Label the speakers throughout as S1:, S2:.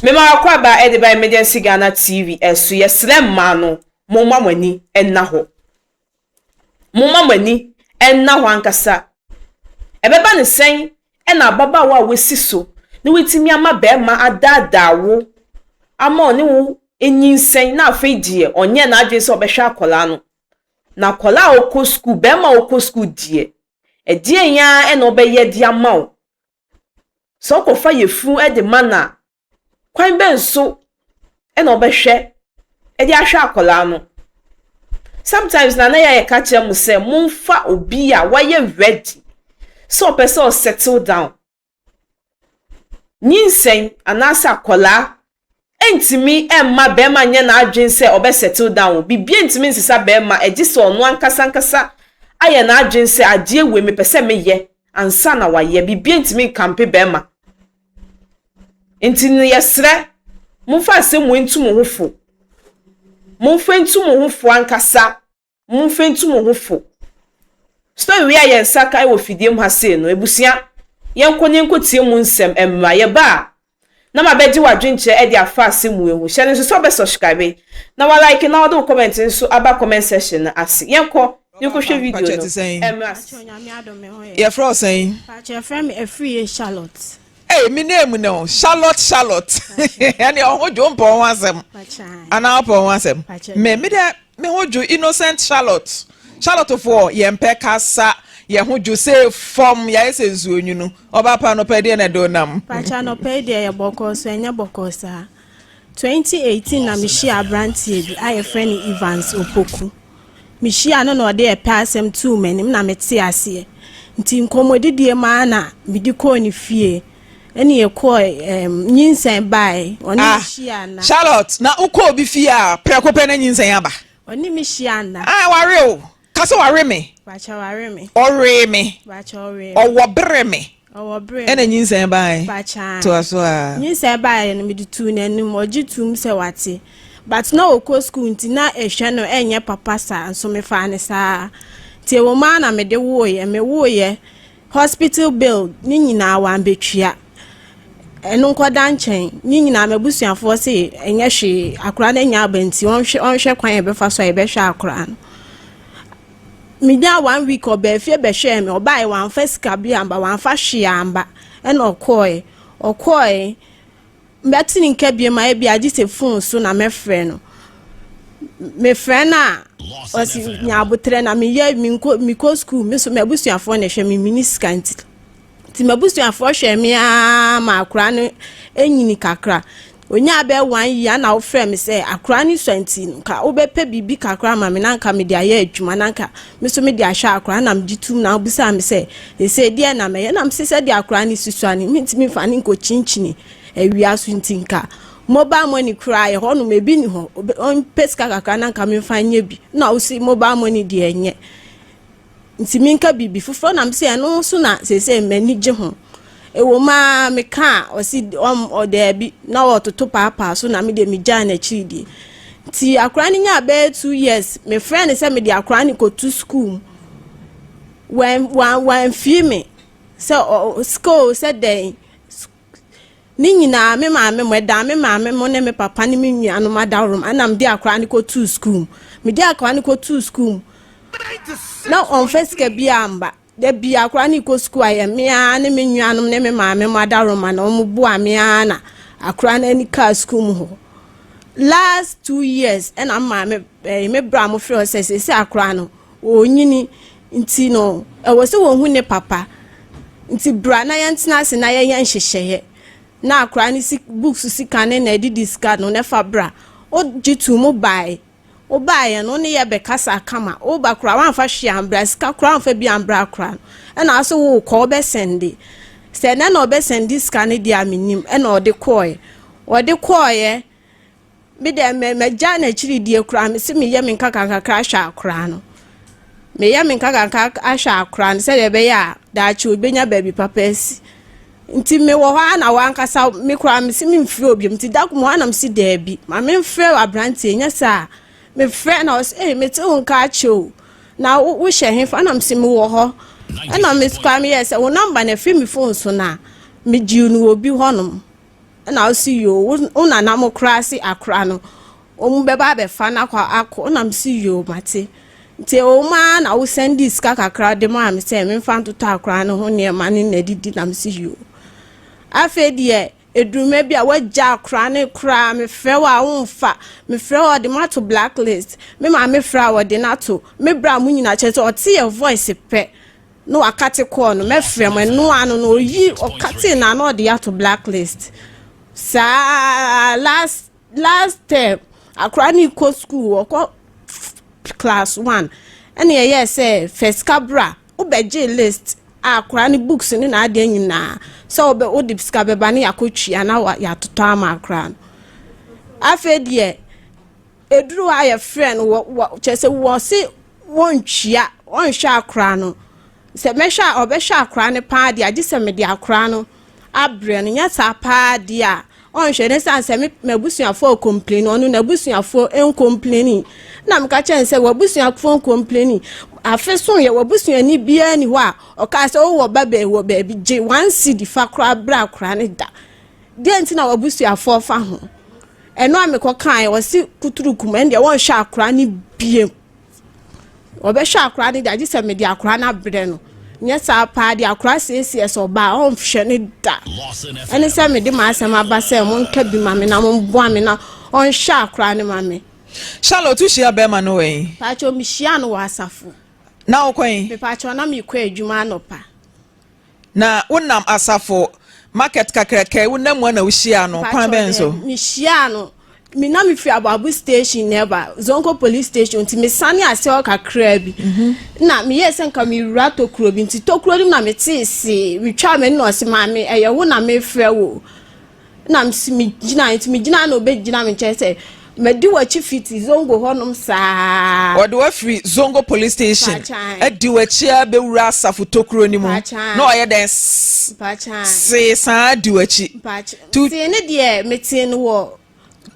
S1: Mema w'akwaba de ba Emergency Ghana TV so, yɛsrɛ mmaa no momma mo ani nna hɔ, momma mo ani nna hɔ ankasa, ɛbɛba no sɛn na ababaawa a w'asi so na w'atumi ama barima adaadaa wo ama ɔne wo anyinsɛn na afei deɛ ɔnyɛɛ n'adwene sɛ ɔbɛhwɛ akwadaa no, na akwadaa a ɔkɔ sukuu, barima a ɔkɔ sukuu deɛ ɛdeɛn ara na ɔbɛyɛ de ama wo Sɛ ɔkɔfa yafunu de ma no a, kwan bɛn so na ɔbɛhwɛ de ahwɛ akwadaa no? Sometimes na na yɛayɛ ka kyerɛ mo sɛ momfa obi a wayɛ ready sɛ ɔpɛ sɛ ɔsettle down nyinsɛn anaasɛ akwadaa ntumi mma barima nyɛ n'adwene sɛ ɔbɛ settle down, biribiara ntumi nsesa barima ɛgye sɛ ɔno ankasa ankasa ayɛ n'adwene sɛ adeɛ wei mepɛ sɛ meyɛ ansa na wayɛ, biribiara ntumi nkampe barima. Nti no yɛsrɛ momfa asɛm wei ntu mo ho fo, momfa ntu mo ho fo ankasa. Momfa ntu mo ho fo. Story wei a yɛn nsa ka wɔ fidie mu ha sei no, abusua, yɛnkɔ na yɛnkɔtie mu nsɛm mmra. Yɛba a, na mabɛgye w'adwenkyerɛ de afa ase mu ahu. Hyɛ no nso sɛ wobɛ subscribe, na wa like na wode wo comment nso aba comment section no ase. Yɛnkɔ na yɛnkɔhwɛ video no mmra.
S2: Yɛfrɛ wo sɛn? Mpakyɛ yɛfrɛ me
S3: Afriyie Charlotte. Ei me nan mu
S2: ne o Charlotte Charlotte ɛne ɔho dwo mpɔ ho asɛm anaa ɔpɔ ho asɛm me me dɛ me ho dwo innocent Charlotte Charlotte foɔ yɛn pɛ kasa yɛn ho dwo se fam yɛayɛ sɛ nsuo nwunu ɔba pa no pɛ deɛ na ɛde onam. Pacha no pɛ deɛ yɛ
S3: bɔkɔɔ so ɛnyɛ bɔkɔɔ saa 2018 na mehyiaa aberanteɛ bi a yɛfrɛ no Evans Opoku. Mehyiaa no na ɔde ɛpɛ asɛm tuu m'anim na mete aseɛ. Nti nkɔmmɔdidie mu ara na mede kɔɔ ne fie ɛne yɛkɔɔ um, nyinsɛn bae. Ɔne ah, hyia na. Charlotte, na wokɔ obi
S2: fie a prɛko pɛ na nyinsɛn aba. Ɔne me hyia
S3: na. Ah, ware o. Ka
S2: sɛ ware me. Pakyɛ ware me.
S3: Ɔwee me. Pakyɛ
S2: ɔwee me. Ɔwɔ
S3: bere me.
S2: Ɔwɔ bere me. Ɛna
S3: nyinsɛn baae.
S2: Pakyɛ a. Toa so a. Nyinsɛn baae no mede
S3: tuu n'anim ɔgye tum sɛ wate. But na ɔkɔ school nti na ɛhwɛ no ɛnyɛ papa saa nso mefaa no saa. Nti ɛwɔ mu ara na mede wooyɛ. Mewooyɛ. Hospital bill ne nyinaa wambetua. Ɛno nkɔda nkyɛn, ne nyinaa m'abusuafoɔ se ɛnyɛ hwee, akora no anya aba nti ɔnhwɛ ɔnhwɛ kwan a ɛbɛfa so a yɛbɛhwɛ akora no. Menyaa one week ɔbaa fie bɛhwɛɛ me, ɔbaeɛ wamfa sika bi amba, wamfa hwee amba, ɛna ɔkɔɔɛ. Ɔkɔɔɛ, Mɛte ne nka bio ma ebia gye sɛ fon so na mɛfrɛ no. Mefrɛ no a, ɔse nya aboterɛ na meyɛ mekɔ sukuu me so m'abusuafoɔ na ɛhwɛ me mini sika nti. Nti m'abusuafoɔ hwɛ me aa ma akora no nyini kakra. Onyaa bɛɛ one year na wofrɛ me sɛ akora no sua nti nka wobɛpɛ biribi kakra ama me na nka mede ayɛ adwuma na nka Me nso mede ahwɛ akora no na megye tom na wobisaa me sɛ, Seesei deɛn na mɛyɛ? Na mese, Sɛdeɛ akora no si sua no, mentumi mfa no nkɔkyinkyini awia so nti, nka mobile money koraa a, ɛhɔ nom ebi nni hɔ, ɔmpɛ sika kakra na nka memfa nyɛ bi. Ɛnna ɔse, Mobile money deɛ ɛnyɛ nti menka biribi foforɔ. Ɛnna mese, Ɛno nso na seesei m'ani gye ho. Ɛwom aa meka a ɔsi ɔm ɔdaabi na ɔtoto paapaa so na me deɛ megyae n'akyiri die. Nti akora no nyaa bɛyɛ two years mefrɛ no sɛ mede akora no kɔtu school mu. Wan wan wanfie me sɛ ɔ school sɛ dɛn ne nyinaa me maame mo ɛda me maame mo ne me papa ne me nuanom adaworo mu ɛna mede akora no kɔtuu sukuu mu mede akora no kɔtuu sukuu mu na ɔmfa sika biara mba Da biaa koraa ne kɔ sukuu a yɛ me aa ne me nuanom ne me maame mo adaworoma na ɔmo boa me aa na akora no ani kaa sukuu mu hɔ. Last two years ɛna me maame ɛɛ me bra mo frɛ ɔsɛ sɛsɛ akora no ɔɔnyini nti no ɛwɔ sɛ wɔhu ne papa nti bra na yɛn tena ase na yɛyɛ nhyehyɛeɛ na akora no si books sika ne na ɛdidi sika no na ɛfa bra. Ɔgye tuu mo baaɛ Wobaeɛ no wone yɛ bɛkasaa kama woba koraa woamfa hwee ambra sika koraa woamfa bi ambra koraa no ɛna ase wokɔ wobɛsɛnde sɛ ɛnɛ na ɔbɛsɛnde sika no deɛ a menim ɛna ɔde kɔɔɛ ɔde kɔɔɛ medɛ mɛ magya n'akyiri die koraa mese meyɛ me nkakankakra ahwɛ akoraa no meyɛ me nkakankakra ahwɛ akoraa no sɛdeɛ ɛbɛyɛ a daakye obɛnya baabi papa asi Nti me wɔ hɔ ara na w'ankasa me koraa me si me nfrɛ obi nti da koro mu ara na me si daabi ma me nfrɛ abranteɛ nyɛ saa me frɛ na ɔsi ee me te wo nka akyɛ o na wo wohyɛ he fa na me si me wɔ hɔ ɛna me koraa me yɛ sɛ wo nɔmba na ɛfiri me fon so na me gyi no obi hɔ nom ɛna ɔsi yoo wo nana mo koraa se akora no. Wɔn bɛba abɛfa no akɔ akɔ ɛna me si yoo mate nti ɛwɔ mu ara na wosɛn dii sika kakra de maa me sɛ memfa ntotɔ akora no ho nneɛma ne n'adidi na me si yoo afei deɛ eduruma bi a wagya akora ne koraa mefrɛ wɔ a womfa mefrɛ wɔ ɔde mato blacklist me maa mefrɛ a wɔde no ato me bra mo nyina kyɛ sɛ ɔte yɛ voice pɛ na wakate kɔɔ no mɛfrɛ mo ɛno ano na oyi ɔkate na na ɔde ato blacklist saa last last term akwadaa no rekɔ sukuu ɔkɔ class one ɛna ɛyɛɛ sɛ fɛsika bra wobɛgye list a akwadaa no books ne n'adeɛ nyinaa sɛ wobɛ wode sika bɛba ne yɛakɔtwia na yɛatotɔ ama akwadaa no afei deɛ ɛduru hɔ a yɛfrɛ no wɔ wɔ kyerɛ sɛ wɔse wɔntwia wɔnhwɛ akwadaa no sɛ mɛhwɛ a ɔbɛhwɛ akwadaa no paa deɛ agye sɛ mede akwadaa no abrɛ no nyɛ saa paa deɛ a ɔnhwɛ ne sane sɛ m'abusuafoɔ ɔkɔmpleni ɔno n'abusuafoɔ nkɔmpleni na meka kyɛn sɛ w'abusuafoɔ nkɔmpleni afe so yɛ w'abusuani biara ni hɔ a ɔkaa sɛ wowɔ ba bɛɛ wɔ baabi gye one cedi fa koraa bra koraa ne da deɛ nti na w'abusuafoɔ fa ho ɛno a mekɔ kaa ɔse kuturu kuma ɛndeɛ wɔnhwɛ akora ne biem Ɔbɛhwɛ akora no deɛ agye sɛ mede akora no abrɛ no. Nyɛ saa paa de akora siesie sɛ ɔbaa ɔnhwɛ ne da. Ɛne sɛ mede m'asɛm aba sɛ monka bi ma me na momboa me na ɔnhwɛ akora no ma me. Charlotte, wohyia
S2: bɛrima no wɔ he? Paatwo, mehyiaa no
S3: wɔ asafo. Na wokɔ he?
S2: Mepaatwo, na meekɔ
S3: adwuma anɔpa. Na
S2: wonam asafo market kakraka yi wonam mu a na wohyia no kwan bɛn so? Mehyia no
S3: me na mefiri aboabo station na ɛba zonko police station nti mesane ase hɔ kakraa bi mhm. na meyɛɛ sɛ nka mewura tokuro bi nti tokuro no mu na metee see metwaa m'ani na ɔse maame ɛyɛ wo na mefrɛ wo na msi megyina nti megyina na ɔbɛgyina me nkyɛn sɛ madi w'akyi fiti zongo hɔnom saa. wɔde wafiri
S2: zongo police station adi w'akyi a bɛwura asafo tokuro no mu na ɔyɛ dɛn see saa di w'akyi tee ne
S3: deɛ metee no wɔ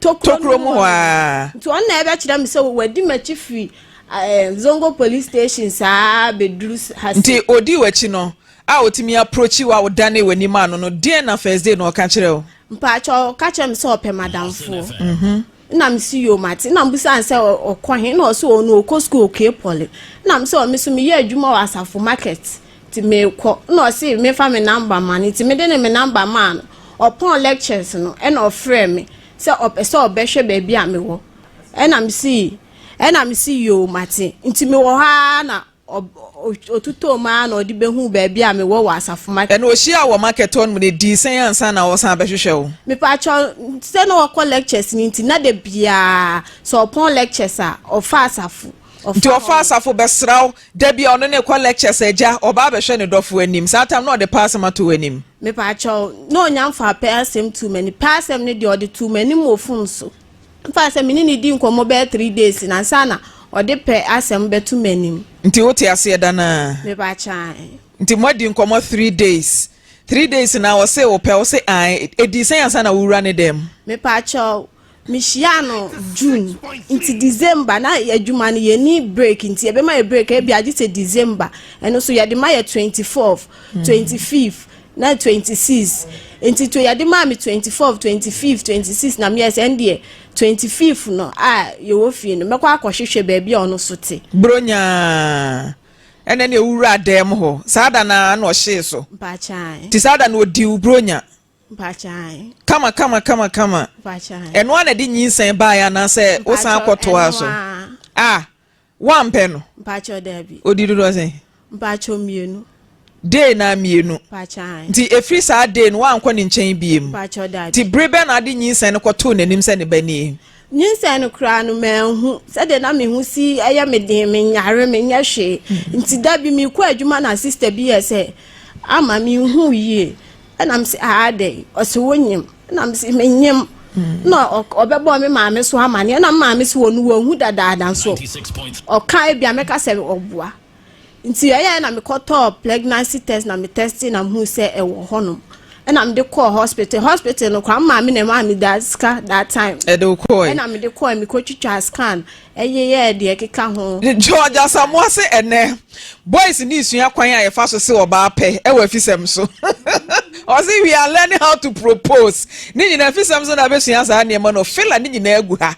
S3: tokuro mu
S2: hɔ a nti ɔno na ɛbɛkyerɛ
S3: me sɛ wadi m'akyi firi eh, zongo police station saa bɛduru nti ɔdi w'akyi no
S2: a otumi approachi wo a wodanee w'ani maa no no, deɛn na first day no ɔka kyerɛɛ wo? Mpakyɛ ɔka kyerɛ
S3: me sɛ ɔpɛ madamfoɔ. Mhm. na mesi yo mate na mbusa no sɛ ɔkɔ he na ɔsɛ ɔno ɔkɔ sukuu ɔkue pɔle na mesɛ ɔ me so meyɛ adwuma wɔ asafo market nti mekɔ na ɔse mefa me namba ma no nti mede ne me namba maa no ɔpɔn lectures no ɛna ɔfrɛ me sɛ ɔpɛ sɛ ɔbɛhwɛ baabi a mewɔ ɛna mesi ɛna mesi yo mate nti mewɔ hɔ ara na Ɔtotɔɔ mu ara na ɔde bɛhuu baabi a mewɔ wɔ Asafo Market. Ɛnna ɔhyiaa wo wɔ market
S2: hɔ nom, na ɛdii sɛn ansa na ɔresan abɛhwehwɛ wo? Mepaakyɛw,
S3: sɛ na ɔkɔ lectures no nti, na da biara sɛ ɔpɔn lectures a, ɔfa Asafo. Nti ɔfa Asafo
S2: bɛsra wo? Da bi a ɔne no rekɔ lectures, Agya, ɔba abɛhwɛ ne dɔfo anim. Saa tam no na ɔde pɛ asɛm ato w'anim. Mepaakyɛw,
S3: na ɔnya mfaa pɛ asɛm tuu m'anim. Pɛ asɛm no deɛ, ɔde too m'anim wɔ fon so. Fa sɛ me ne no dii nkɔmmɔ bɛyɛ three days no ansa na ɔde pɛ asɛm bɛto m'anim. Nti wote aseɛ da
S2: no ara? Me ba kyae.
S3: Nti moadi nkɔmmɔ
S2: three days? Three days no ara ɔsee wo pɛ? Wose ae. Ɛdii sɛn ansa na wowura ne dan mu? Me pa kyɛw,
S3: me hyiaa no June, nti December na adwuma no yɛ nni break nti ɛbɛma yɛ break ɛbia gye sɛ December, ɛno nso yɛde ma yɛ twenty fourth, twenty fifth. na twenty six nti to yɛde maa me twenty four twenty fifth twenty six na meyɛ sɛ ɛndeɛ twenty fifth no a yɛwɔ fie no mɛkɔ akɔhwehwɛ baabi a ɔno so te. Buronya
S2: ɛnɛ na ewuraa dan mu hɔ saa da no ara na ɔhyee so Mpakyɛw. nti saa
S3: da no ɔdii wo
S2: buronya Mpakyɛw.
S3: kama kama
S2: kama kama Mpakyɛw.
S3: ɛno ara na ɛde
S2: nyinsɛn baeɛ anaasɛ wosan Mpakyɛw, kɔtoaa ɛno so ara. ah Woampɛ no? Mpakyɛw, dabi.
S3: Odi dodoɔ sɛn?
S2: Mpakyɛw, mmienu.
S3: Day naa
S2: mmienu. Mpakyɛw, ae. Nti ɛfiri
S3: saa day
S2: no woankɔ ne nkyɛn biem? Mpakyɛw, dabi. Nti bere
S3: bɛn na ade nyinsɛn
S2: no kɔtoo n'anim sɛ ne ba nie? Nyinsɛn no koraa
S3: no manhu. Sɛdeɛ na me ho si yɛ me den, menyare, menyɛ hwee. Nti da bi merekɔ adwuma na sista bi yɛɛ sɛ ama menhuu yie. ɛna m sɛ aa dɛn ɔse wonyim ɛna m sɛ menyim na ɔbɛbɔ me maame so ama ne ɛna maame so wɔ no wɔhu dadaada so ɔka ebia mɛka sɛ ɔboa nti ɛyɛ na mekɔtɔɔ pregnancy test na metɛste na mehu sɛ ɛwɔ hɔnom ɛna mede kɔɔ hospital hospital no kora maame na ɛma meda sika that time ɛna mede
S2: kɔɔ mekɔtwitwa
S3: scan Ɛnye yɛ deɛ ɛkeka ho. George Asamoah
S2: se ɛnnɛ boys need sua kwan a yɛfa so se ɔbaa pɛ wɔ afisɛm so. Ɔse we are learning how to propose ne nyinaa afisɛm so na abɛsua saa nneɛma no. Fela ne nyinaa agu ha.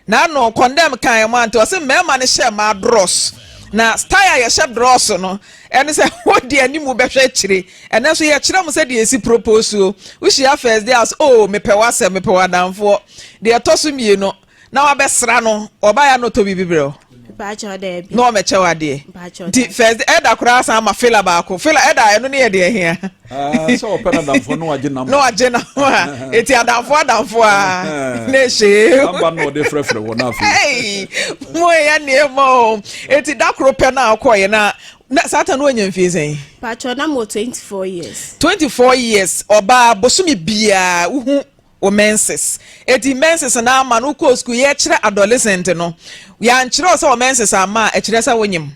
S2: Na ano condemn kan ɛmo ante. Ɔse mmarima no hyɛ mmaa drɔs. Na style a yɛhyɛ drɔs no ɛne sɛ wode anim wobɛhwɛ akyire. Ɛnɛ nso yɛkyerɛ mo sɛdeɛ yɛsi propose o. Wohyia first day a ɔse oh mepɛ w'asɛm, mepɛ w'adamfoɔ. Deɛ ɛtɔ so mmienu. na wabɛsra no ɔbaeɛ a na ɔtɔ biribi berɛ
S3: na ɔmɛkyɛ wo adeɛ
S2: nti first ɛda koraa san ma fela baako fela ɛda ɛno ne yɛ deɛ hia ah, sɛ ɔpɛ no
S4: adamfoɔ na wagye nam na wagye nam a
S2: ɛti adamfoɔ adamfoɔ a na ɛhyee aba na ɔde frɛfrɛ
S4: wɔ no afei mo
S2: ɛyɛ nneɛma o ɛti da koro pɛ no a wokɔeɛ na na saa ta no wanya mfie sɛn patwɔ na mɔ 24
S3: years 24 years
S2: ɔbaa bosome biaa wohu wo menses. Eti menses no ama no wokɔɔ sukuu, yɛkyerɛ adolescent no, yɛankyerɛ wo sɛ wo menses amma a, ɛkyerɛ sɛ wonyem.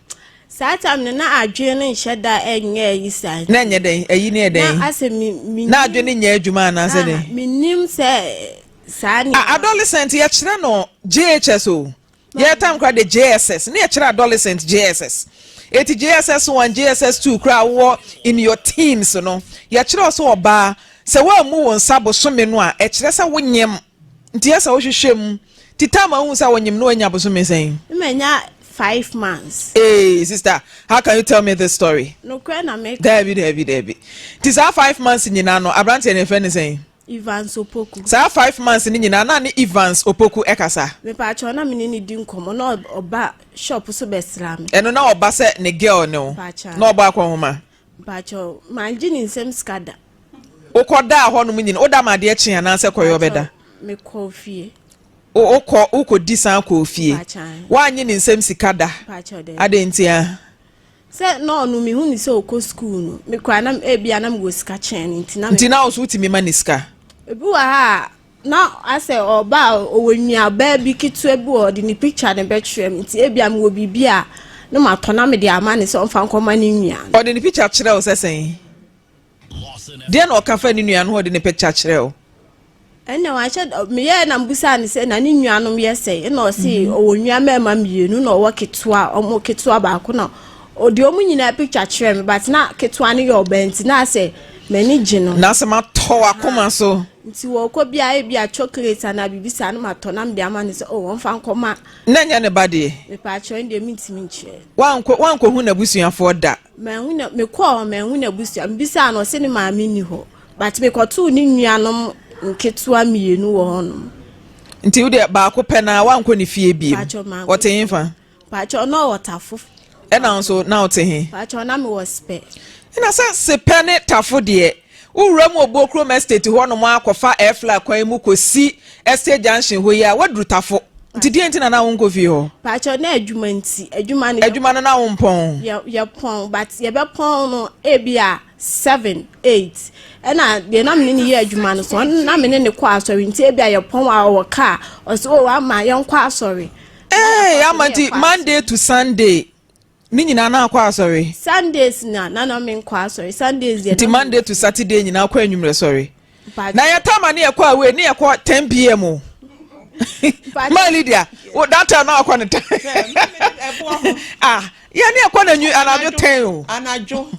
S2: Saa time no
S3: na adwene no nhyɛ da ɛnyɛ ayi saa nti. Na ɛnyɛ dɛn? Ayi no yɛ
S2: dɛn? Na asɛ mi, mi. Na
S3: adwene no nyɛ adwuma
S2: anaasɛ dɛn? Aha, mi nim sɛ
S3: saa nneɛma. A, adolescent yɛkyerɛ
S2: no JHS o. Yɛtam kora de JSS ne ɛkyerɛ adolescent JSS eti JSS one JSS two kora wowɔ in your teens no yɛkyerɛ wo sɛ ɔbaa sɛ woammu wo nsa bosome no a ɛkyerɛ sɛ wonyem nti ɛsɛ wohwehwɛ mu ti tam a wohu sɛ wonyem no wanya bosome sɛn? Me manya
S3: five months. Ee sister
S2: how can you tell me this story? Nokorɛ na meka.
S3: Daabi daabi daabi
S2: nti saa five months nyinaa no abranteɛ no yɛfrɛ no sɛn? Evans Opoku.
S3: Saa five months no
S2: nyinaa na ne Evans Opoku ɛkasa. Mepaakyɛw na me ne
S3: no di nkɔmɔ na ɔba shop so bɛ sra me. Ɛno na ɔba sɛ ne
S2: girl ne wo na ɔbɔ akɔ nhoma. Mepaakyɛw
S3: mangye ne nsam sika da. Wokɔ daa
S2: hɔ nom nyina woda ma adeɛ kye anaa sɛ kɔyɛ ɔbɛ da. Mekɔ ofie.
S3: Wokɔ
S2: wokɔ di san kɔ ofie. Wanyɛ ne nsam sika da. Adɛn ntia. Sɛ
S3: na ɔno mehu no sɛ ɔkɔ sukuu no, me koraa na ebia na mewɔ sika kyɛn no nti na Nti na ɔso wotumi
S2: ma ne sika? Ebi wɔ ha
S3: a, na asɛ ɔba a ɔwɔ nuabaa bi ketewa bi wɔ ɔde ne picture no bɛkyerɛ me nti ebia mewɔ biribi a na matɔ na mede ama no sɛ ɔmfa nkɔma ne nua no. Ɔde ne picture kyerɛ wo
S2: sɛ sɛn? Deɛn na ɔka fa ne nua no ho a ɔde ne pɛ kya kyerɛ wo? Ɛnna
S3: wahyɛ da meyɛɛ na mbusaa no sɛ na ne nuanom yɛ sɛ ɛna ɔse mhm. ɔwɔ nua mmarima mmienu na ɔwɔ ketewa ɔmo ketewa baako na ɔde ɔmo nyinaa picture kyerɛ me but na ketewa no yɛ ɔbaa nti na asɛ m'ani gye no na asɛ matɔ
S2: wakoma so nti wɔkɔ bi a
S3: ebi a chocolate anaa biribi saa no matɔ na mede ama no sɛ o oh, ɔmfa nkɔma na ɛnyɛ ne ba deɛ
S2: mepɛ akyerɛ no deɛ
S3: mentumi nkyerɛ wankɔ wankɔhu
S2: n'abusuafoɔ da Manhu na mekɔɔ
S3: hɔ manhu n'abusua mebisaa no ɔse ne maame nni hɔ but mekɔtoo ne nuanom nketewa mmienu wɔ hɔnom. Nti wo deɛ
S2: baako pɛ na wankɔ ne fie biem ɔte he fa? Pakyɛ na ɔwɔ
S3: tafo. Ɛna nso
S2: na ɔte he? Pakyɛ na mewɔ sepɛ.
S3: Ɛna sɛ
S2: sepɛ ne tafo deɛ Wowura mu Obuo kurom estate hɔnom ara kɔfa airfly kwan yi mu kɔsi estate junction hɔ yi a, woaduru Tafo. Nti deɛ nti na na wonkɔ fie hɔ? Pakyɛ na adwuma
S3: nti, adwuma no yɛ. Adwuma no na
S2: wompɔn? Yɛ yɛpɔn but
S3: yɛbɛpɔn no ebi a seven eight ɛna deɛ na mene ne yɛ adwuma no so na mene ne kɔ asɔre nti ebi a yɛpɔn a ɔwɔ kaa ɔsɛ o ama yɛnkɔ asɔre. Ee ama nti
S2: Monday to Sunday. Ne nyinaa na akɔ asɔre. Sundays na na
S3: na me nkɔ asɔre Sundays deɛ. Nti Monday to Saturday nyinaa
S2: akɔ enyimrɛ sɔre. Na yɛ time a ne yɛ kɔ away ne yɛ kɔ ten pm o. Maa Lydia o that time na akɔ ne time. Ah yɛ ne yɛ kɔ na nyu anadwo ten o. Anadwo.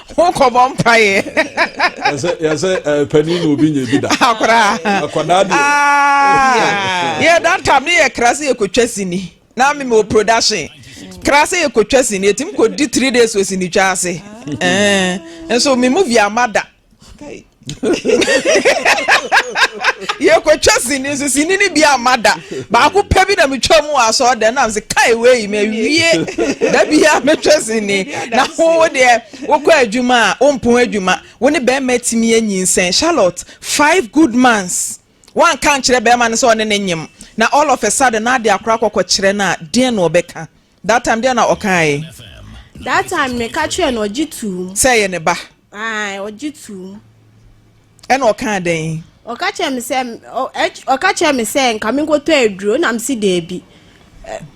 S2: ho kɔbɔ mpaeɛ yɛsɛ
S4: eh, panin na obi nyɛ bi da akoraa ah, akwadaa
S2: deɛ
S4: ah,
S2: yɛ da tam ne yɛ kra sɛ yɛkɔtwa sini na meme wɔ production kra sɛ yɛkɔtwa sini ɛtumi kɔdi 3 days wɔ sini twa ase eh, nso me movie ama da yɛkɔtwa sini nso sini no bi ama da baako pɛ bi na metwa mu wɔ asɔɔ dɛ nam se kae wei mawie da bia metwa sini na wo deɛ wokɔ adwuma a wompon adwuma wo ne bɛrima atumi anyinsɛn charlotte five good months woanka nkyerɛ bɛrima no sɛ ɔne ne nyem na all of a sudden na ade akora kɔkɔkyerɛ no a deɛn na ɔbɛka That time deɛ na ɔkae. That
S3: time me ka kyerɛ no ɔgye tuum. Sɛ ɛyɛ ne ba.
S2: Ae ɔgye tuum. Ɛna ɔkaa dɛn. Ɔka kyerɛ
S3: me sɛ ɔka kyerɛ me sɛ nka me nkɔtɔ aduro na me si daabi.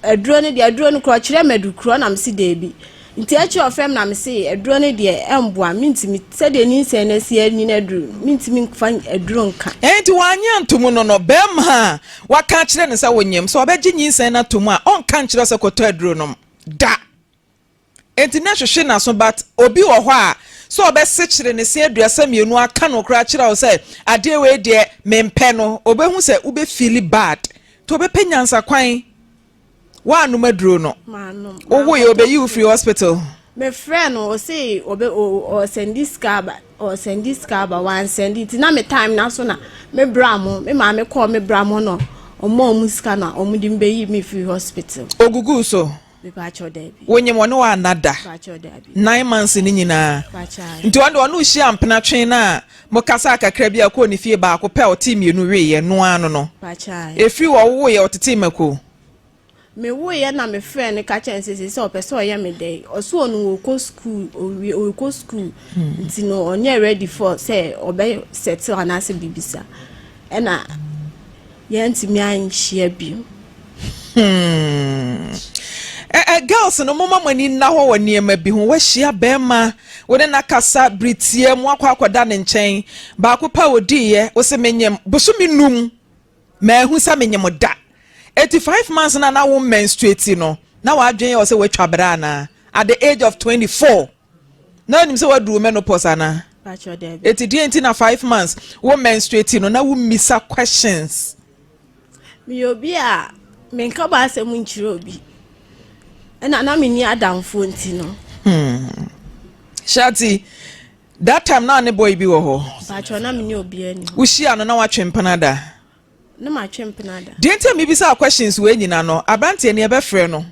S3: Aduro no deɛ aduro no korɔ ɔkyerɛ me adu korɔ na me si daabi. Nti akyire ɔfrɛ me na me se aduro no deɛ ɛmboa me ntumi sɛdeɛ ni nsɛn na si ɛnyina aduro me ntumi nfa aduro nka. Ɛnti wanyɛ ntomu
S2: no no bɛɛma. Woaka akyerɛ no sɛ wonyem, sɛ ɔbɛgye nyinsɛn no atom a, ɔnka nkyerɛ wo sɛ kɔtɔ aduro nom. Da! Enti na hwehwe n'aso but obi wɔ hɔ a, sɛ ɔbɛsekyere ne se aduasa mmienu aka no koraa akyerɛ wo sɛ adeɛ wei deɛ mempɛ no, ɔbɛhu sɛ wobɛfeeli bad. Nti ɔbɛpɛ nyansakwan. Woannom aduro no? Manom. Wowoe obeyi wo firi hospital? Mefrɛ no
S3: ɔse ɔbɛ ɔsɛndi sika aba ɔsɛndi sika aba wansɛndi ti na me time na so na me bra mo me maame kɔɔ me bra mo no ɔmo ɔmo sika na ɔmo de mbɛyi me firi hospital. Ogugu so.
S2: Mepakyɛw daabi.
S3: Wonyim ɔne wo anna
S2: da. Mepakyɛw daabi.
S3: Nine months ne nyinaa.
S2: Mepakyɛw. Nti ɔno de
S3: ɔne wo hyia
S2: mpena twe na Mokasaa kakra bi a ɔkɔɔ ne fie baako pɛ a ɔtee mmienu weeɛ no ara no no. Ɛfiri
S3: wɔ wowoeɛ
S2: ɔtetee mako.
S3: Mewoeɛ na mefrɛɛ no ka kyerɛɛ no sɛ sei sɛ ɔpɛ sɛ ɔyɛ me dɛn? Ɔsɛ ɔno ɔkɔ sukuu ɔwie ɔkɔ sukuu nti no ɔnyɛ ready for sɛ ɔbɛ settle anaasɛ biribi saa ɛna Yɛantumi anhyia bio. Hmm.
S2: Eh, eh, girls no moma mo ani nna hɔ wɔ nneɛma bi ho wahyia bɛrima wo ne n'akasa bere tia mu akɔ akɔda ne nkyɛn baako pa odiiɛ wo se menyem bosome num maahu sɛ menyem da eti five months na na wo menstruate no na wadwen yɛ sɛ watwa bere anaa at the age of 24 na onim sɛ waduru menopause anaa eti
S3: deɛ nti na five
S2: months wo menstruate no na wo mmisa questions.
S3: meyɛ obi a menka ba asɛm nkyerɛ obi ɛna na menni adamfoɔ nti no. Hmm. shati
S2: that time na ne boy bi wɔ hɔ. bàtchɔ na menni obiara
S3: ni hɔ. wohyia no na watwe
S2: mpana da. Ne matwe
S3: mpena da. Deɛ nti a mebisaa
S2: questions wei nyina no, aberanteɛ no yɛbɛfrɛ no,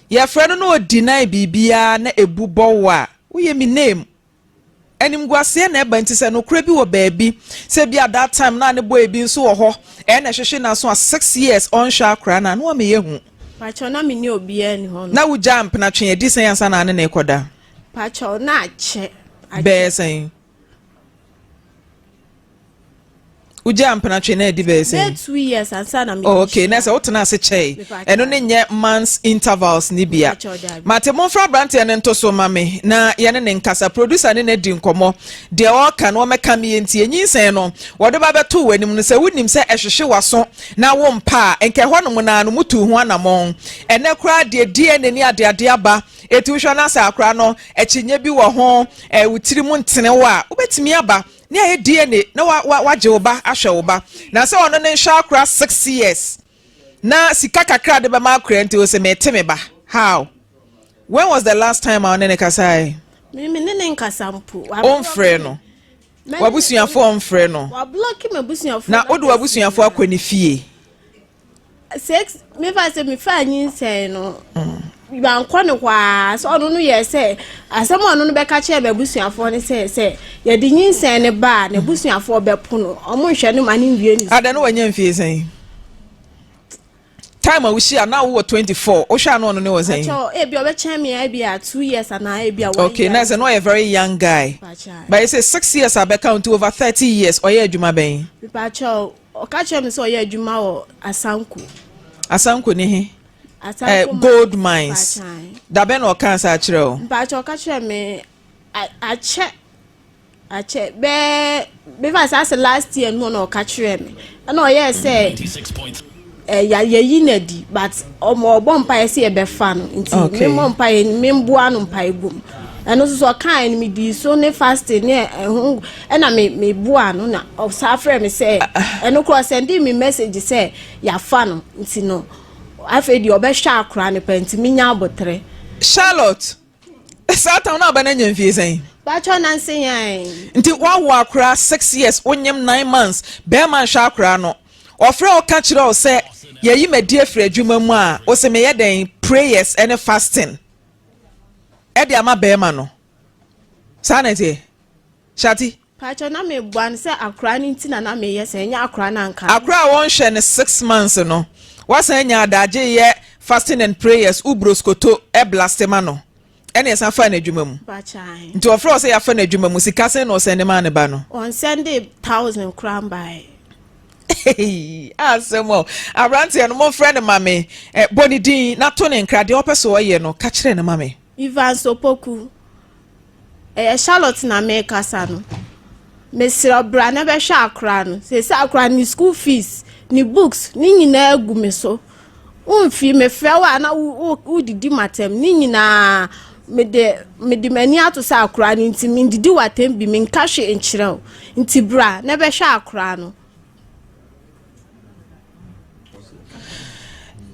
S2: yɛfrɛ no na ɔdeny biribiara na ɛbu bɔ wo a, woyɛ me name. Animguaseɛ na ɛba nti sɛ nokorɛ bi wɔ baabi, sɛ bi a that time na ne boy bi nso wɔ hɔ, ɛɛ na ɛhwehwe n'aso a six years ɔnhwɛ akora no a, na wameyɛ hu. Pakyɛw na me ne
S3: obiara ni hɔ no. Na wogyaa mpenatwe
S2: adi sɛn ansa na ne ne rekɔda? Pakyɛw na
S3: akyɛ. Bɛyɛ sɛn?
S2: wogyaa mpenatwe na ɛde bɛyɛ sɛn. bɛyɛ two years ansa na
S3: mi. oh okay na sɛ wotena ase
S2: kyɛe ɛno ne nyɛ months intervals ni bia mate mo nfra aberanteɛ no nto so ma me na yɛne ne nkasa producer ne na di nkɔmɔ deɛ ɔka no ɔmɛka me yɛ nti enyinsɛn no wɔde ba bɛto wɔ anim no sɛ wonim sɛ ɛhwehwe waso na wo mpa a nkɛ hɔ nom na no mutu ho anamɔn ɛnɛ koraa deɛ DNA ne adeade aba Enti wohwɛ na sɛ akwadaa no akyinnye bi wɔ ho, ɛɛ wo tiri mu ntene wo a, wobɛtumi aba ne ayɛ DNA na wa wa wagye wo ba ahwɛ wo ba. Na sɛ ɔno ne nhwɛ akora six years na sika kakra de bɛma akora nti o sɛ mete me ba how when was the last time a ɔne ne kasae? Mimi ne ne
S3: nkasa mpo. Ɔmfrɛ no.
S2: Wabusuafo ɔmfrɛ no. Wablɔki m'abusuafo.
S3: Na wode wabusuafo
S2: akɔ ne fie.
S3: six mefa sɛ mefa nyinsɛn no bankɔ ne hɔ a sɛ ɔno no yɛ sɛ asɛm a ɔno no bɛka kyerɛ bɛabusuafoɔ no sɛ sɛ yɛde nyinsɛn no ba a n'abusuafoɔ bɛpo no ɔmo nhwɛ no ma no nwie ne adɛ no wanya mfie sɛn
S2: time a wohyia na wowɔ 24 wohwɛ a na ɔno ne wɔ sɛn ebi ɔbɛkyɛn me
S3: a ebi a two years anaa ebi a one okay na sɛ na ɔyɛ very
S2: young guy but you say six years a bɛka nti over 30 years ɔyɛ adwuma bɛn mepakyɛw
S3: Ɔka kyerɛɛ me sɛ ɔyɛ adwuma wɔ Asanko.
S2: Asanko ne he? Asanko eh, gold mines. Dabɛn na ɔkaa saa kyerɛ o? Mpakyɛ ɔka kyerɛ me
S3: akyɛ akyɛ bɛɛ bɛfa sɛ asɛ last year no na ɔka kyerɛ me ɛna ɔyɛɛ sɛ ɛya eh, yɛyi no adi but ɔmo ɔbɔ mpaeɛ sɛ yɛbɛfa no nti okay. memmɔ mpaeɛ memboa no mpaeɛ bom ɛno nso so ɔkae no medii so ne fasting ne ɛho ɛna me meboa no na ɔsaa frɛ me sɛ ɛno korɔ sɛnde me message sɛ yɛafa no nti no afei deɛ ɔbɛhwɛ akora no pɛ nti menya aboterɛ charlotte
S2: saa town no aba no anya mfie sɛn bɛkyɛ nanse
S3: yɛn nti woawo akora
S2: six years wonyem nine months bɛrima nhwɛ akora no ɔfrɛ wo ka kyerɛ wo sɛ yɛyi madi afiri adwuma mu a wo se meyɛ dɛn prayers ne fasting ɛde ama bɛrima no saa na ɛteɛ shati Pakyɛw
S3: na me boa no sɛ akora no nti na na me yɛ saa ɛnyɛ akora no anka. Akora a wɔnhwɛ no six
S2: months no wasan nya adagye yɛ fasting and prayers wo broskoto blaste ma no ɛna ɛsan faa no adwuma mu nti ɔfrɛ wɔ
S3: sɛ yɛafa no
S2: adwuma mu sika sɛn na ɔsɛnde maa ne ba no.
S3: Ɔnsɛnde thousand
S2: koraa mbae. asɛm o aberanteɛ no momfrɛ no ma me bɔ ne din na to ne nkra deɛ ɔpɛ so ɔyɛ no ka kyerɛ no ma me. Evans Opoku,
S3: Ɛyɛ Charlotte na merekasa no. Mesrɛ wo bra na bɛhwɛ akora no. Seesei akora ne school fees, ne books, ne nyinaa agu me so. Womfii mefrɛ wo a na wodidi matam ne nyinaa mede mede m'ani ato sɛ akora no nti mendidi w'atam bi menka hwe nkyerɛ wo. Nti bra na bɛhwɛ akora no.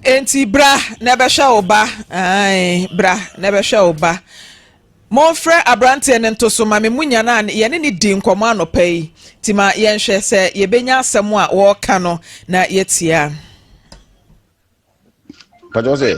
S2: Enti bra na ɛbɛhwɛ wo ba. Ae, bra na ɛbɛhwɛ wo ba. Momfrɛ aberanteɛ no nto so ma me mu nya no a yɛne ne di nkɔmmɔ anɔpa yi. Nti ma yɛnhwɛ sɛ yɛbɛnya asɛm a wɔreka no na yɛatie a.
S5: Pàtó sɛ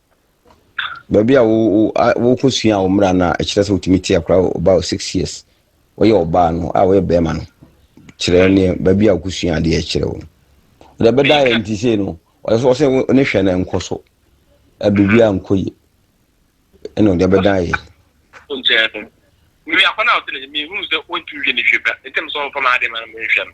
S5: Baabi a wo wo a wokɔ sua wo mmara no a ɛkyerɛ sɛ wotumi te akora ɔbaa o six years wɔyɛ ɔbaa no a wɔyɛ bɛrima no kyerɛ ne baabi a wokɔ sua adeɛ kyerɛ wo no wɔde ɛbɛda yɛ nti sei no ɔyɛ sɛ ɔsɛ ne hwɛ no nkɔ so biribi a nkɔ yie ɛna ɔde ɛbɛda yɛ. Nkyɛn no
S6: mmea kɔ na ɔte ne mehu sɛ wɔntumi hwɛ ne hwɛ ba ntɛm sɛ ɔmfa maa de ma no nhwɛ no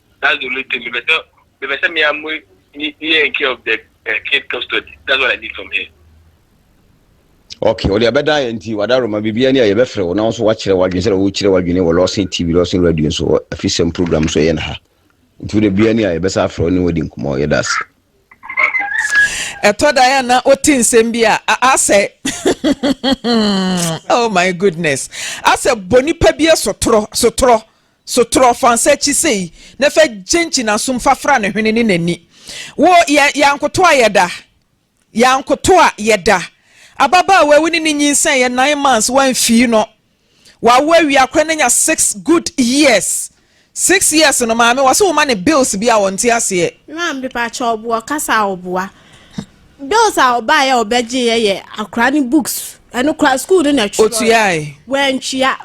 S6: That's the only thing mepɛ sɛ mepɛ sɛ me amu ni ni yɛ care of the uh, kid custody that's
S5: what I need from here. Okay, ɔde abɛda yɛ nti wada roma biribiara ni a yɛbɛfrɛ wo na wo nso wakyerɛ w'adwene sɛdeɛ wokyerɛ w'adwene wɔ lɔsen tv lɔsen radio nso wɔ afisɛm program so ɛyɛ no ha nti wode biara ni a yɛbɛsa afrɛ wo ne wadi nkɔmmɔ yɛda ase ɛtɔ
S2: da yɛ na wote nsɛm bi a asɛ oh my goodness asɛ bɔ nipa bi sotorɔ sotorɔ So trɔ fa ns'akyi sei na fa gyinkyi n'asom fa fra ne hwene ne n'ani. Wo yɛ yɛankoto a yɛda, yɛankoto a yɛda. Ababaawa wo ne no nyinsɛn yɛ nine months w'anfii no. W'awo awia koraa no anya six good years. Six years no maame wɔ se wo ma no bills bi a ɔnte aseɛ. Maame mepakyɛw
S3: boɔ kasa a ɔboa. Bills a ɔbaeɛ a ɔbɛgyeeɛ yɛ akora ne books ɛno koraa school no na ɛtwerɛɛ. Ɔtuae. W'antua.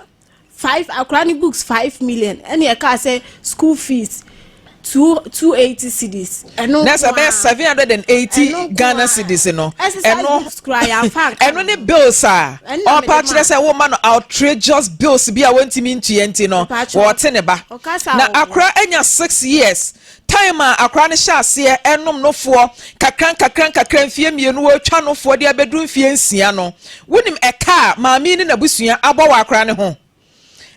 S3: five akwadaa no books five million ɛna ɛka sɛ school fees two two eighty cedis. ɛno na sɛ bɛyɛ seven hundred
S2: and eighty ghana cedis no ɛno ɛno ne bills a ɔpa kyerɛ sɛ wɔma no outrageous bills bi a wɔntumi ntua nti no wɔte ne ba na akora anya six years. Time a akwadaa no hyɛ aseɛ renom nofoɔ nkakrankakra mfeɛ mmienu ɔretwa nofoɔ de abɛduru mfeɛ nsia no, wonim ɛka a maame yi ne n'abusua abɔ wɔ akwadaa no ho?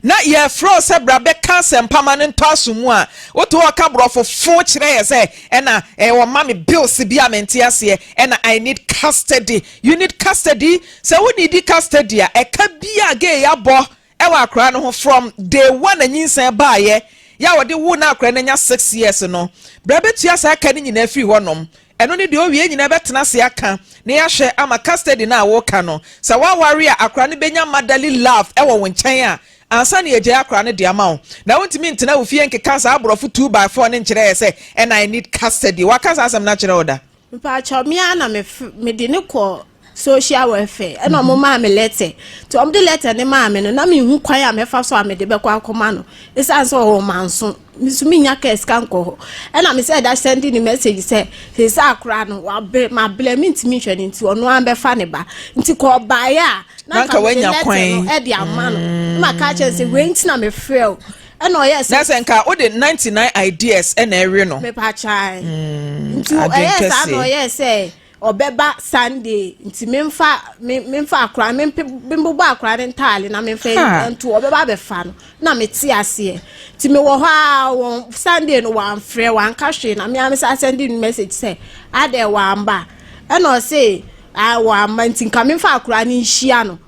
S2: Na yɛrefrɛ wo sɛ bra bɛka asɛmpa ma no ntɔ asom mu a, wote hɔ ka borɔfo fo kyerɛ yɛ sɛ ɛna eh, wɔma me bills bi a mente aseɛ ɛna I need custody. You need custody? Sɛ wonidi custody a, ɛka bi a gay abɔ Ɛwɔ akora no ho from day one na nyinsɛn baayɛ yɛ a wɔde woo no a akora no anya six years no, bra bɛtua saa ka no nyinaa firi hɔ nom. Ɛno ne deɛ ɔwie nyinaa bɛtena ase aka na yɛahwɛ ama custody no a woka no. Sɛ woaware a akora no bɛnya motherly love ɛwɔ wo nkyɛn a ansa na yɛagyae akora no de ama wo. Na wontumi ntena wo fie nkeka saa aborɔfo two by four no nkyerɛɛ sɛ ɛna I need custody. Waka saa asɛm no akyerɛ wo da? mpakyɛw me ara
S3: na me mede ne kɔ social welfare ɛna wɔn maa me lɛtɛ nti wɔn de lɛtɛ ne maa me no na mehu kwan a mɛfa so a mede bɛkɔ akɔma no esan sɛ ɔwɔ manso nso menya kaa sika nkɔ hɔ ɛna me sɛ ɛda sɛnde ne message sɛ sɛ sɛ akora no wabrɛ mabrɛ me ntumi nhwɛ no nti ɔno ara bɛfa ne ba nti kɔ ɔbaeɛ a na nka mede lɛtɛ no
S2: ɛde ama no
S3: mm. na maka kyerɛ sɛ wei nti na mefrɛ o ɛna ɔyɛ sɛ. na sɛ nka o de ninety
S2: nine ideas ɛna ɛwe no. mepa kyae.
S3: Mm, nti ɛyɛ saa na ɔyɛ sɛ ɔbɛba sunday nti memfa memfa akora membobɔ akora ne ntaale na memfa nto ɔbɛba abɛfa no na mete aseɛ nti mewɔ hɔ a wɔn sunday no wɔamfrɛ wɔanka hwee na mea mesa sɛnde no message sɛ adɛ wɔamba ɛna ɔse wɔamba nti nka memfa akora ne nhyia no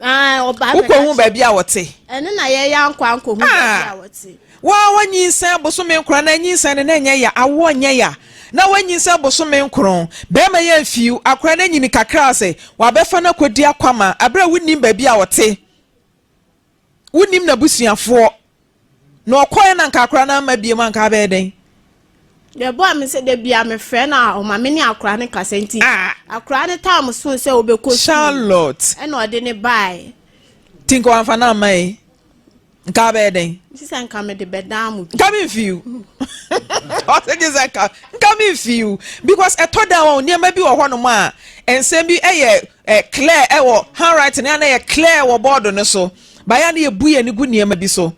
S2: Wokɔhu
S3: baabi a
S2: wɔte?
S3: Woa woanyinsɛn
S2: bosome nkron na anyinsɛn no na ɛnyɛ ya, awoɔ nyɛ ya na woanyinsɛn bosome nkron. Bɛrima yi amfiw, akora no anyini kakra sɛ wɔabɛfa no akɔdi akwama berɛ a wonnim baabi a ɔte, wonnim n'abusuafoɔ. Na ɔkɔɛ na nka akora no amma biam a nka abɛyɛ dɛn? Deɛ
S3: ɛboa me sɛ da bi a mefrɛ no a ɔma me ne akora no kasa nti ah. akora no taa mo so sɛ wobɛkɔ Charlotte ɛna
S2: ɔde ne
S3: bae nti nka wamfa
S2: no amma yi nka abɛyɛ dɛn? Gye sɛ nka mede
S3: bɛdan mo bi nka memfiw
S2: ɔsɛ gye sɛ nka nka memfiw because ɛtɔ da wɔn nneɛma bi wɔ hɔnom a nsɛm bi ɛyɛ Ɛyɛ clear wɔ handwriting no a na yɛ clear wɔ bɔɔdo no so. Baeɛ a na yɛbu yɛn ani gu nneɛma bi so.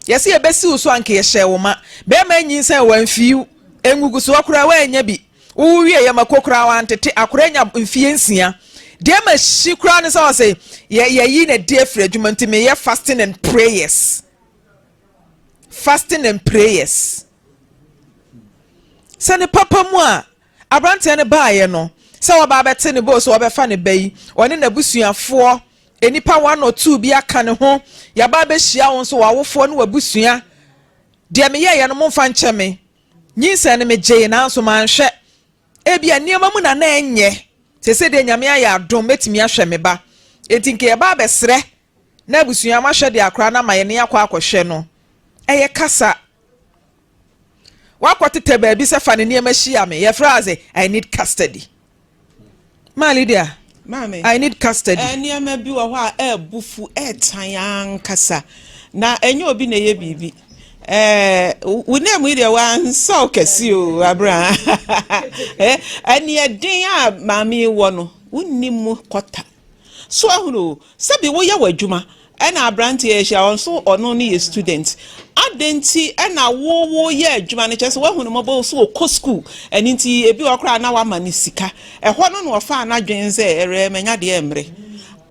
S2: Yɛse yɛbɛsi wo so a anka yɛhyɛɛ wo ma. Bɛrima anyinsɛn wamfiiw. Ngugusoɔ koraa wannya bi. Wowo wieeɛ mako koraa wantete. Akora anya mfeɛ nsia. Deɛ mahyi koraa ne sɛ ɔse yɛ yɛyi n'adi afiri adwuma nti meyɛ fasting and prayers. Fasting and prayers. Sɛ ne papa mu a. Aberanteɛ no baeɛ no, sɛ waba abɛte ne boo sɛ wɔbɛfa ne ba yi, ɔne n'abusuafoɔ, nnipa one or two bi aka ne ho, yɛaba abɛhyia wo nso, w'awofoɔ ne w'abusua. Deɛ meyɛeɛ no, momfa nkyɛ me. Nyinsɛn no megyee, nanso manhwɛ. Ebia nneɛma mu na na ɛnyɛ. Seesei deɛ Nyame ayɛ adom, mɛtumi ahwɛ me ba. Enti nka yɛba abɛsrɛ na abusua, moahwɛ deɛ akora no ama yɛne akɔ akɔhwɛ no. Ɛyɛ kasa. Wakɔtetɛ baabi sɛ fa ne nneɛma hyia me. Yɛfrɛ adze I need custody. Maa Lydia, Maame, I need
S7: custody. Eh,
S2: nneɛma bi wɔ hɔ a
S7: ɛɛbu fu, ɛɛtan ankasa. Na ɛnyɛ obi na ɛyɛ biribi. Eh, wo nan mu yi deɛ wansɔw kɛse o, abra. eh, ɛneɛ den a maame wɔ no, wonni mu kɔta. So ahunu o sɛ bi woyɛ w'adwuma ɛna abranteɛ ahyia hɔ nso ɔno no yɛ student adɛn nti ɛna wo wo yɛ adwuma no kyerɛ sɛ w'ahunu mɔbɔ o so ɔkɔ school ɛno nti ebi wɔ hɔ koraa na w'ama no sika ɛhɔ no na ɔfaa n'adwene sɛ ɛrɛ mɛnya deɛ mmerɛ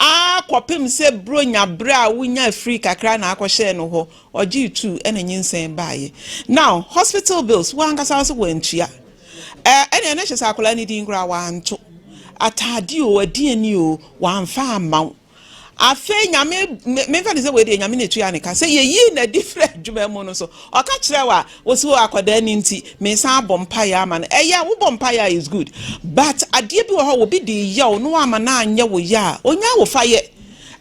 S7: aa kɔpem sɛ bro nya berɛ a wonya afiri kakra na akɔhyɛɛ no hɔ ɔgyee tuu ɛna nyinsɛn baayɛ now hospital bills wo ankasa wo sɛ wantua Ɛɛ, ɛnneɛ na kyerɛ sɛ akwadaa no din koraa wanto. Atadeɛ o, aduane o, wamfa amma wo. Afei Nyame, me, memfa ne sɛ wei deɛ Nyame na ɛtua ne ka, sɛ yɛyii no adi firi adwuma mu no so, ɔka kyerɛ wo a, wo se o akwadaa no nti, mesan abɔ mpaeɛ ama no. Ɛyɛ, wobɔ mpaeɛ a, it's good. But adeɛ bi wɔ hɔ a, obi de reyɛ wo na woamma no anyɛ wo yɛ a, ɔnnya wo fa yɛ.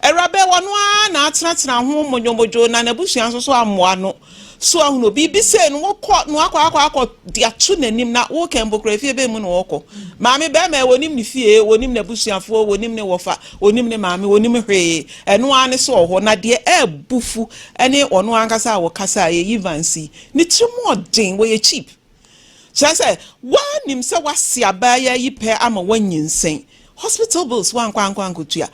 S7: Awuraba yi, ɔno ara na atenatena ho modwomodwo, na n'abusua nso so ammoa no. So ahunu obi bi sei no wokɔ na wakɔ akɔ akɔ de ato n'anim na wokɛ mbokora fie bɛn mu na wɔkɔ maame bɛrima yɛ wɔnim ne fie wɔnim n'abusuafoɔ wɔnim ne wɔfa wɔnim ne maame wɔnim hwee ɛno ara ne so wɔ hɔ na deɛ ɛɛbu fu ɛne ɔno ankasa a wɔkasa a yɛyi vansi ne tiri mu ɔden wɔyɛ cheap Kyerɛ sɛ, woanim sɛ woase abaayewa yi pɛ ama woanyinsɛn. Hospital bills woankɔ ankɔ ankotua.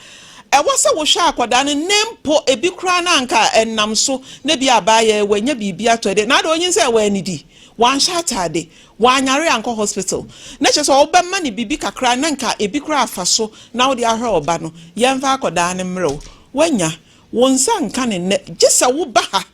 S7: Ɛwɔ sɛ wohwɛ akwadaa no ne mpo ebi koraa na anka ɛnam so na ebia abaayewa yi wanya biribi atɔ de, na ada onyinsɛn woannidi, woanhyɛ ataade, woanyare ankɔ hospital. Na kyerɛ sɛ wobɛma no biribi kakra na anka ebi koraa afa so na wode ahwɛ wo ba no. Yɛmfa akwadaa no mmrɛ wo. Woanya. Wo nsa nka no nnɛ gye sɛ woba ha.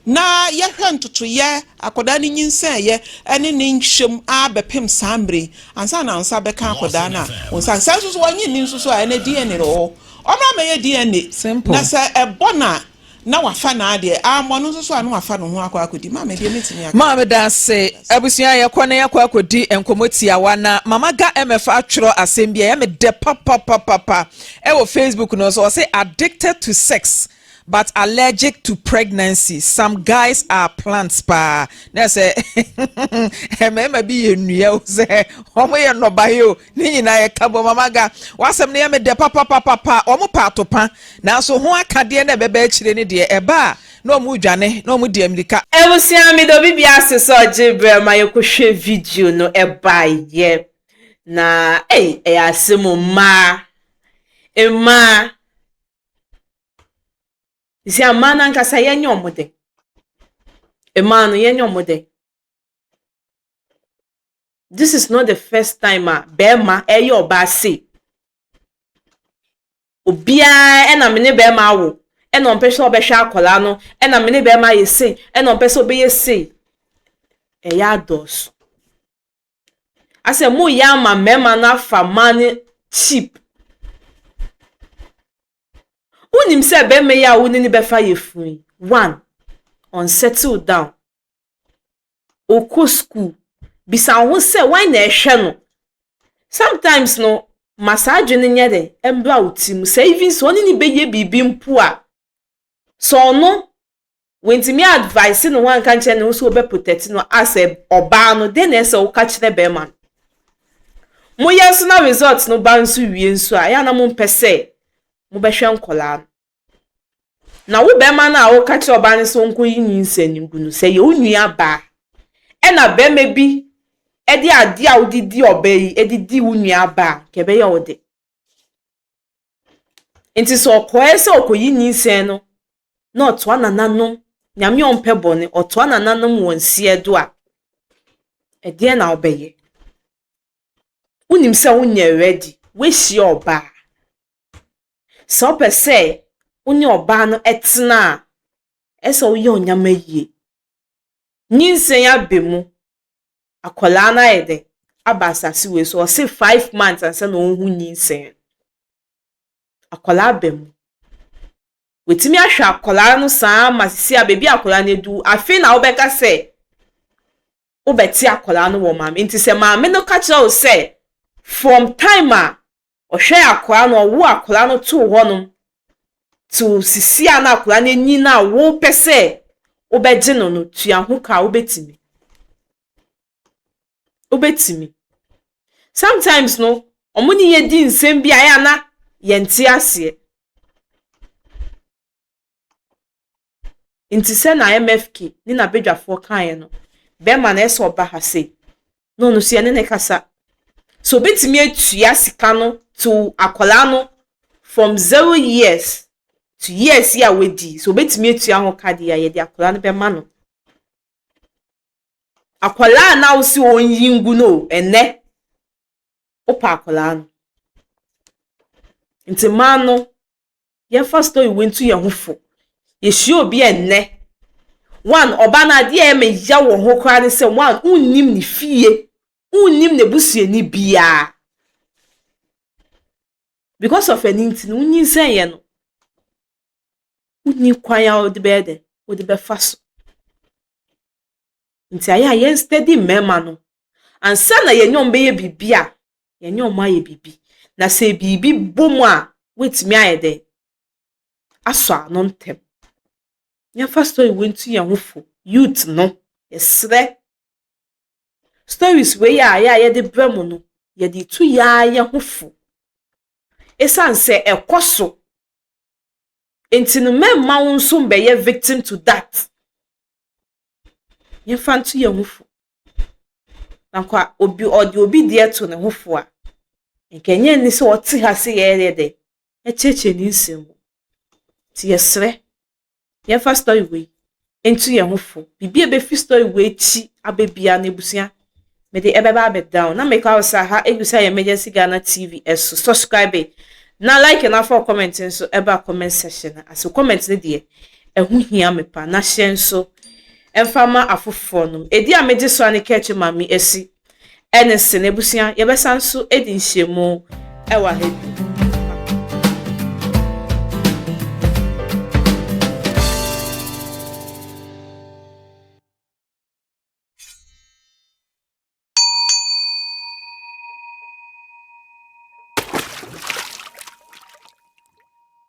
S7: na yɛhwɛ ntotoeɛ akwadaa no nyinsɛneeɛ ne ne nhwɛm ara bɛpem saa mmerɛ yi ansa na wo nsa bɛka akwadaa no a wo nsa sɛ nso so wɔnye nni nso so a ɛnɛ DNA wɔ hɔ ɔmmra mɛyɛ DNA na sɛ ɛbɔ na na wafa naa deɛ ammɔ no nso so a na wafa no ho akɔ akɔdi maame deɛ mɛtumi aka maame da ase
S2: abusua yɛkɔ na yɛkɔ akɔdi nkɔmmɔ tiawa na mama ga mf atwerɛ asɛm bi ɛyɛ me dɛ papapapapa ɛwɔ facebook no so ɔse addicted to sex But allergic to pregnancy some guys are plants paa na sɛ mmarima bi yɛ nnua o sɛ wɔn yɛ nnɔbaeɛ o ne nyinaa yɛ ka bɔ mama ga wasɛm no yɛ me dɛ papapapapa wɔn pɛ atopa nanso ho akadeɛ na ɛbɛba akyire ne deɛ ɛba a na wɔn redwane na wɔn di amirika. Abusua meda obi
S1: bia ase sɛ ɔgye berɛ ma yɛkɔhwɛ video no ɛbaeɛ na ei ɛyɛ asɛm o mmaa mmaa Isi amaa no ankasa yɛnyɛ ɔmo dɛ. Mmaa no yɛnyɛ ɔmo dɛ. This is not the first time a bɛrima ɛyɛ ɔbaa sei. Obiara ɛna me ne bɛrima awo ɛna ɔmpɛ sɛ ɔbɛhwɛ akwadaa no ɛna me ne bɛrima ayɛ sei ɛna ɔmpɛ sɛ ɔbɛyɛ sei. Ɛyɛ adɔɔso. Asɛ moyɛ ama mmarima no afa mmaa no cheap. Wonim sɛ barima yi a wo ne no bɛfa yafunu yi, one, ɔn settle down, ɔkɔ school. Bisa wo ho sɛ wan na ɛhwɛ no. Sometimes no, ma saa adwene nyɛ dɛ, ɛmbra wo ti mu. Sɛ even sɛ ɔne no bɛyɛ biribi mpo a, sɛ ɔno wantumi a advice ne ho anka nkyerɛ ne ho sɛ wɔbɛ protect no as a ɔbaa no dɛn na ɛsɛ woka kyerɛ bɛrima no moyɛ nso na result no ba nso wie nso a ɛyɛ na mompɛ sɛ mobɛhwɛ nkɔlaa no na wo bɛrima no a woka kyerɛ ɔbaa no sɛ ɔnkɔ yi nyinsɛn no gu no sɛ yɛ wo nua baa ɛna bɛrima bi ɛde adeɛ a wode di ɔbaa yi ɛde di wo nua baa kɛbɛyɛ wo de Enti sɛ ɔkɔɛ sɛ ɔkɔyi nyinsɛn no na ɔtoa nananom, Nyame a ɔmpɛ bɔne, ɔtoa nananom wɔn nsiɛ do a, ɛdeɛn na wobɛyɛ? Wonim sɛ wonyɛ ready, woahyia ɔbaa. Sɛ wopɛ sɛ wo ne ɔbaa no tena a, ɛsɛ sɛ woyɛ wo nneɛma yie. Nyinsɛn aba mu, akwadaa no ayɛ dɛn aba asase wei so ɔse five months ansa na ɔhu nyinsɛn akwadaa ba mu wɔtumi ahwɛ akwadaa no saa ma sisi a beebi akwadaa no adu afei na wobɛka sɛ wobɛte akwadaa no wɔ maame nti sɛ maame no ka kyerɛ wo sɛ from time a ɔhwɛɛ akwadaa no, ɔwoo akwadaa no too hɔnom till sisi a na akwadaa no anyin a wopɛ sɛ wobɛgye no no, tua ho ka, wobɛtumi. Wobɛtumi. Sometimes no, wɔn ne yɛ di nsɛm bi a ɛyɛ a na yɛnte aseɛ. Ntsi sɛ na MFK nye n'abadwafoɔ kãeɛ no, bɛrima no ɛsɛ ɔba ha sei na ɔno so yɛne no kasa. Sɛ ɔbɛtumi atua sika no to akwadaa no from zero years to years yi a w'adi, sɛ ɔbɛtumi atua ho ka deɛ a, yɛde akwadaa no bɛma no. Akwadaa no a wose ɔnyi ngu no o, ɛnnɛ wopɛ akwadaa no. Nti mmaa no, yɛmfa story wei nto yɛn ho fo. Yɛhyia obi a nnɛ, one, ɔbaa no adeɛ a ɛyɛ me ya wɔ ho koraa ne sɛ, one, wonnim ne fie, wonnim n'abusuani biara. Because of ɛno nti no, wonyinsɛnyɛ no, wonni kwan a wode bɛyɛ dɛ, wode bɛfa so. Nti ayɛ a yɛn steady mmarima no, ansa na yɛnyɛ wɔn bɛyɛ biribi a, yɛne wɔn ayɛ biribi. Na sɛ biribi bɔ mu a, woatumi ayɛ dɛn? Asɔ ano ntɛm. Yɛmfa story wei ntu yɛn ho fo. Youth no, yɛsrɛ. Stories wei a yɛ a yɛde brɛ mo no, yɛde tu yɛa yɛn ho fo. Esiane sɛ ɛkɔ so. Nti no, mɛmma wo nso mbɛyɛ victim to that. Yɛmfa ntu yɛn ho fo. Na nka obi ɔde obi deɛ to ne ho fo a, nka ɛnyɛ ni sɛ ɔte ha sɛ yɛyɛ dɛ ɛkyerɛkyerɛ ne nsɛm mu. Nti yɛsrɛ, yɛmfa story wei nto yɛn ho fo. Biribi a ɛbɛfiri story wei akyi aba biara no, abusua, mede ɛbɛba abɛda wo. Na meka wo sɛ aha ɛgu sɛ Emergency Ghana TV so. Subscribe na like na fa comment nso ɛba comment section no ase. Comment no deɛ, ɛho hia me pa. Na hyɛ nso, mfa ma afoforɔ nom. Ɛdi a megye soa ne kɛɛkye ma me asi ɛne sene. Abusua, yɛbɛsan nso adi nhyiamu ɛwɔ aha bio.